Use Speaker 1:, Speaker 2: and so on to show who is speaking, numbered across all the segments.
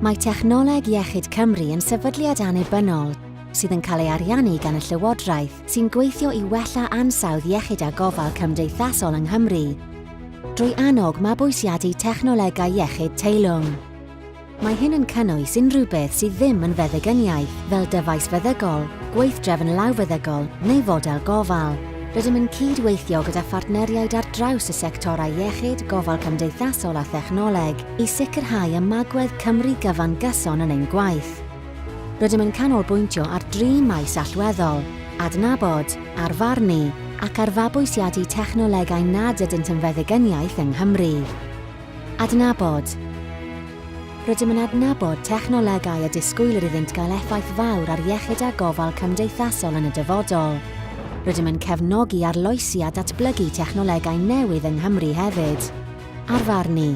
Speaker 1: Mae Technoleg Iechyd Cymru yn sefydliad annibynnol sydd yn cael ei ariannu gan y Llywodraeth sy'n gweithio i wella ansawdd iechyd a gofal cymdeithasol yng Nghymru drwy annog mabwysiadu technolegau iechyd teilwng. Mae hyn yn cynnwys unrhyw beth sydd ddim yn feddygyniaeth, fel dyfais feddygol, gweithdrefn lawfeddygol neu fodel gofal. Rydym yn cyd-weithio gyda phartneriaid ar draws y sectorau iechyd, gofal cymdeithasol a thechnoleg i sicrhau ymagwedd Cymru gyfan gyson yn ein gwaith. Rydym yn canolbwyntio ar dri maes allweddol, adnabod, arfarnu ac ar fabwysiadu technolegau nad ydynt yn feddygyniaeth yng Nghymru. Adnabod Rydym yn adnabod technolegau y disgwylir iddynt gael effaith fawr ar iechyd a gofal cymdeithasol yn y dyfodol. Rydym yn cefnogi arloesi a datblygu technolegau newydd yng Nghymru hefyd. Arfarnu.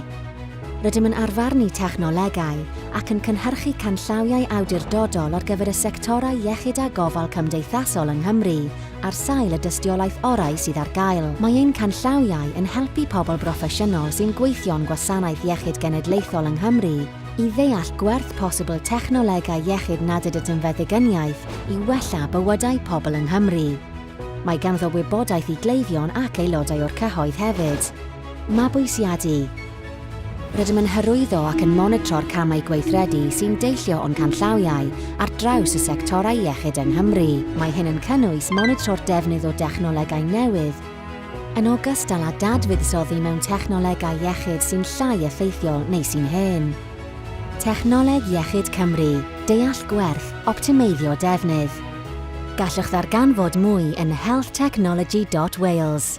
Speaker 1: Rydym yn arfarnu technolegau ac yn cynhyrchu canllawiau awdurdodol ar gyfer y sectorau iechyd a gofal cymdeithasol yng Nghymru ar sail y dystiolaeth orau sydd ar gael. Mae ein canllawiau yn helpu pobl broffesiynol sy'n gweithio'n Gwasanaeth Iechyd Genedlaethol yng Nghymru i ddeall gwerth posibl technolegau iechyd nad ydynt yn feddygyniaeth i wella bywydau pobl yng Nghymru. Mae ganddo wybodaeth i gleifion ac aelodau o'r cyhoedd hefyd. Mabwysiadu. Rydym yn hyrwyddo ac yn monitro'r camau gweithredu sy'n deillio o'n canllawiau ar draws y sectorau iechyd yng Nghymru. Mae hyn yn cynnwys monitro'r defnydd o dechnolegau newydd, yn ogystal â dadfuddsoddi mewn technolegau iechyd sy'n llai effeithiol neu sy'n hen. Technoleg Iechyd Cymru, deall gwerth, optimeiddio defnydd. Gallwch ddarganfod mwy yn healthtechnology dot wales.